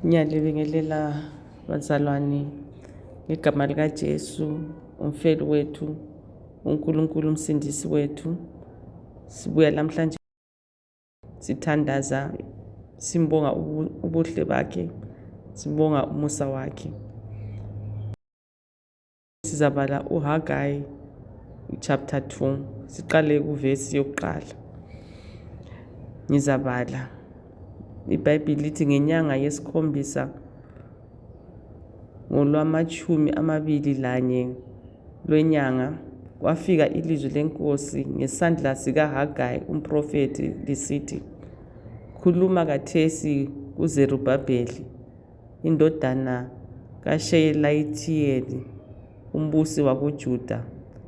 ngiyalibingelela bazalwane ngegama likaJesu umfeli wethu uNkulunkulu umsindisi wethu sibuya lamhlanje sithandaza simbonga ubuhle bakhe sibonga umusa wakhe sizabala uhagayi chapter 2 siqale kuvesi yokuqala ngizabala ibhayibhili lithi ngenyanga yesikhombisa ngolwamatshumi amabili lanye lwenyanga kwafika ilizwi lenkosi ngesandla sikaHagayi umphrofethi lisithi, Khuluma kathesi kuZerubhabheli indodana kaSheyelayithiyeli umbusi wakoJuda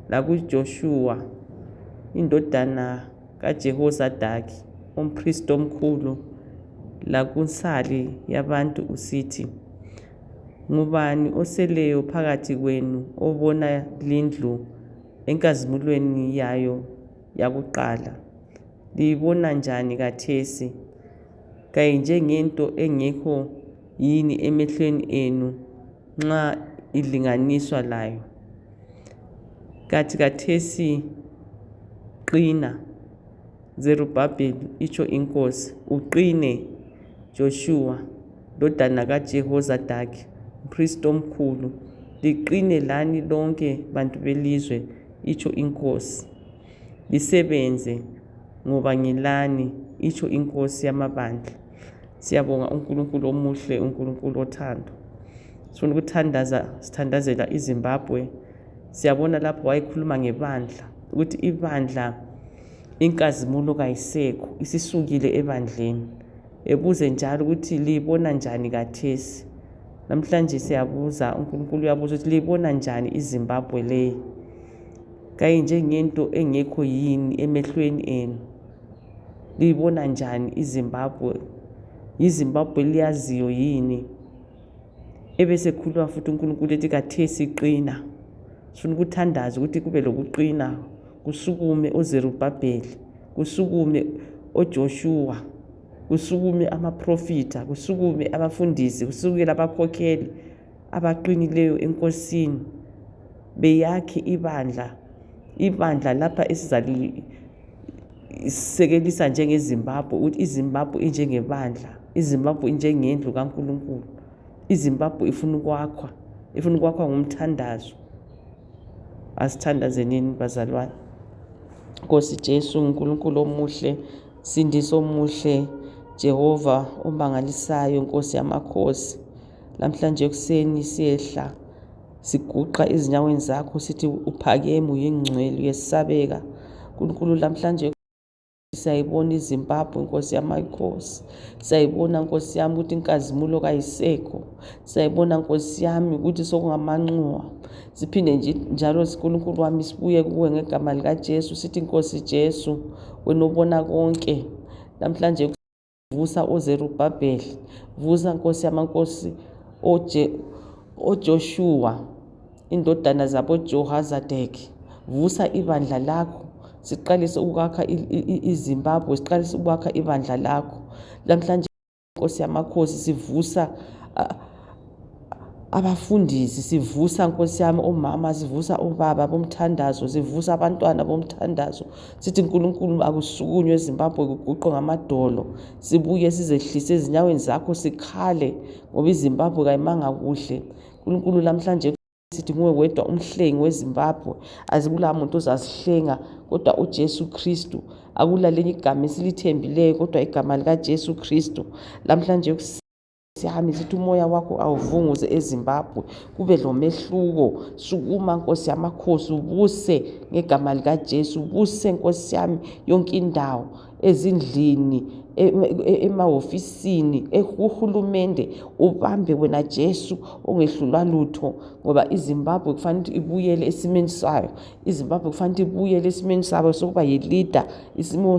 lakuJoshuwa indodana kaJehozadaki umphristi omkhulu lakunsali yabantu usithi, Ngubani oseleyo phakathi kwenu obona lindlu enkazimulweni yayo yakuqala? Liyibona njani khathesi? Kayinjengento engekho yini emehlweni enu nxa ilinganiswa layo? Kanti khathesi qina. Zerubhabheli, itsho inkosi, uqine, Joshua, ndodana kaJehozadaki, mpristi omkhulu, liqine lani lonke bantu belizwe, itsho inkosi, lisebenze, ngoba ngilani, itsho inkosi yamabandla. Siyabonga uNkulunkulu omuhle, uNkulunkulu othando. Sifuna ukuthandaza, sithandazela iZimbabwe. Siyabona lapho wayekhuluma ngebandla, ukuthi ibandla inkazimulo kayisekho isisukile ebandleni ebuze njalo ukuthi liyibona njani kathesi namhlanje siyabuza unkulunkulu uyabuza ukuthi liyibona njani izimbabwe leyi kayinjengento engekho yini emehlweni enu liyibona njani izimbabwe yizimbabwe liyaziyo yini ebesekhuluma futhi unkulunkulu ethi kathesi qina sifuna ukuthandaza ukuthi kube lokuqina Kusukume oZerubhabheli, kusukume oJoshuwa, kusukume amaprofitha, kusukume abafundisi, kusukela abakhokheli abaqinileyo eNkosini, beyakhe ibandla, ibandla lapha esizalisekelisa njengeZimbabwe, ukuthi iZimbabwe injengebandla, iZimbabwe injengendlu kaNkulunkulu, iZimbabwe ifuna ukwakhwa, ifuna ukwakhwa ngomthandazo. Asithandazenini bazalwane. Nkosi Jesu, Nkulunkulu omuhle, Sindisi omuhle, Jehova omangalisayo, Nkosi yamakhosi. Namhlanje ekuseni siyehla siguqa ezinyaweni zakho sithi uphakeme uyingcwele uyesabeka. Nkulunkulu namhlanje Siyayibona iZimbabwe nkosi yamakhosi. Siyayibona nkosi yami ukuthi inkazimulo kayisekho. Siyayibona nkosi yami ukuthi sokungamanxuwa. Siphinde njalo siNkulunkulu wami sibuye kuwe ngegama likaJesu sithi Nkosi Jesu wena ubona konke. Namhlanje Vusa oZerubhabheli, vusa Nkosi yamankosi oJe, oJoshua, indodana zaboJohazadeki, vusa ibandla lakho siqalise ukwakha iZimbabwe, siqalise ukwakha ibandla lakho. Lamhlanje Nkosi yamakhosi sivusa uh, Abafundisi sivusa nkosi yami omama sivusa obaba bomthandazo sivusa abantwana bomthandazo sithi nkulunkulu akusukunywe ezimbabwe kuguqe ngamadolo sibuye sizehlise ezinyaweni zakho sikhale ngoba izimbabwe kayimanga kuhle nkulunkulu lamhlanje sithi nguwe wedwa umhlengi wezimbabwe azikula muntu ozasihlenga kodwa uJesu Kristu akulalenye igama esilithembileyo kodwa igama likaJesu Kristu lamhlanje Siyamisa ukuthi umoya wakho awuvunguze eZimbabwe kube lomehluko sukuma nkosi yamakhosi ubuse ngegama likaJesu ubuse nkosi yami yonke indawo ezindlini e-, e-, emahofisini kuhulumende ubambe wena Jesu ongehlulwa lutho ngoba iZimbabwe kufanele ibuyele esimeni sayo iZimbabwe kufanele ibuyele esimeni sabo sokuba yilida isimo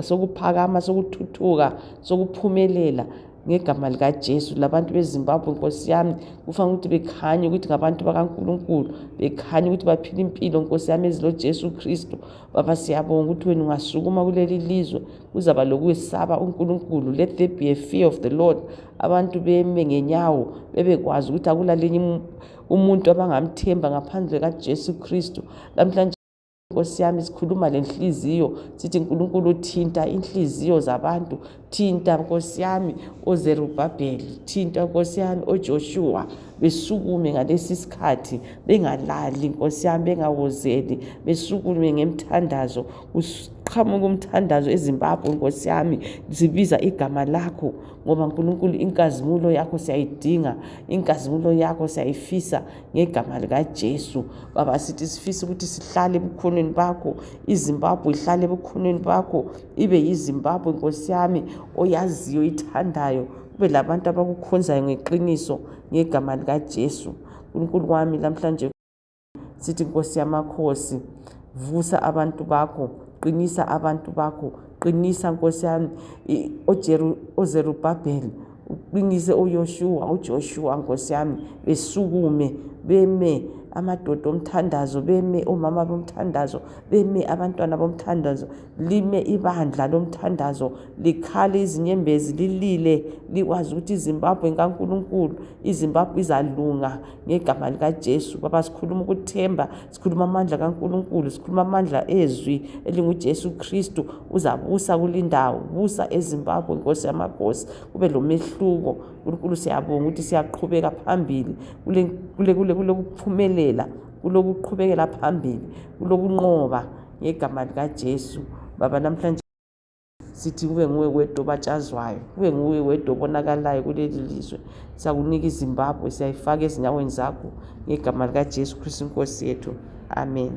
sokuphakama sokuthuthuka sokuphumelela ngegama likaJesu labantu beZimbabwe nkosi yami kufanele ukuthi bekhanye ukuthi ngabantu bakaNkulunkulu bekhanye ukuthi baphila impilo nkosi yami eziloJesu Kristu baba siyabonga ukuthi wena ungasukuma kuleli lizwe kuzaba lokwesaba uNkulunkulu let there be a fear of the Lord abantu beme ngenyawo bebekwazi ukuthi akulalinye umuntu abangamthemba ngaphandle kaJesu Kristu lamhlanje Nkosi yami sikhuluma lenhliziyo sithi Nkulunkulu thinta inhliziyo zabantu thinta Nkosi yami oZerubabheli thinta Nkosi yami oJoshua besukume ngalesi sikhathi bengalali Nkosi yami bengawozeli besukume ngemthandazo kuqhamuka umthandazo eZimbabwe Nkosi yami zibiza igama lakho ngoba Nkulunkulu inkazimulo yakho siyayidinga inkazimulo yakho siyayifisa ngegama likaJesu. Baba sithi sifisa ukuthi sihlale ebukhoneni bakho, iZimbabwe ihlale ebukhoneni bakho, ibe yiZimbabwe Nkosi yami oyaziyo ithandayo, kube labantu abakukhonzayo ngeqiniso ngegama likaJesu. Nkulunkulu wami lamhlanje sithi Nkosi yamakhosi, vusa abantu bakho, qinisa abantu bakho, qinisa Nkosi yami oZerubhabheli uqinise uYoshuwa uJoshuwa Nkosi yami besukume beme amadoda omthandazo beme omama bomthandazo beme abantwana bomthandazo lime ibandla lomthandazo likhale izinyembezi lilile likwazi ukuthi izimbabwe nkankulunkulu izimbabwe izalunga ngegama likajesu baba sikhuluma ukuthemba sikhuluma amandla kaNkulunkulu sikhuluma amandla ezwi elinguJesu Kristu uzabusa kulindawo busa eZimbabwe Nkosi yamakhosi kube lomehluko uNkulunkulu siyabonga ukuthi siyaqhubeka phambili kule kule kule kulokuphumelela kulokuqhubekela phambili kulokunqoba ngegama likaJesu baba namhlanje sithi kube nguwe wedwa obatshazwayo kube nguwe wedwa obonakalayo kuleli lizwe siyakunika izimbabwe siyayifaka ezinyaweni zakho ngegama likajesu kristu inkosi yethu amen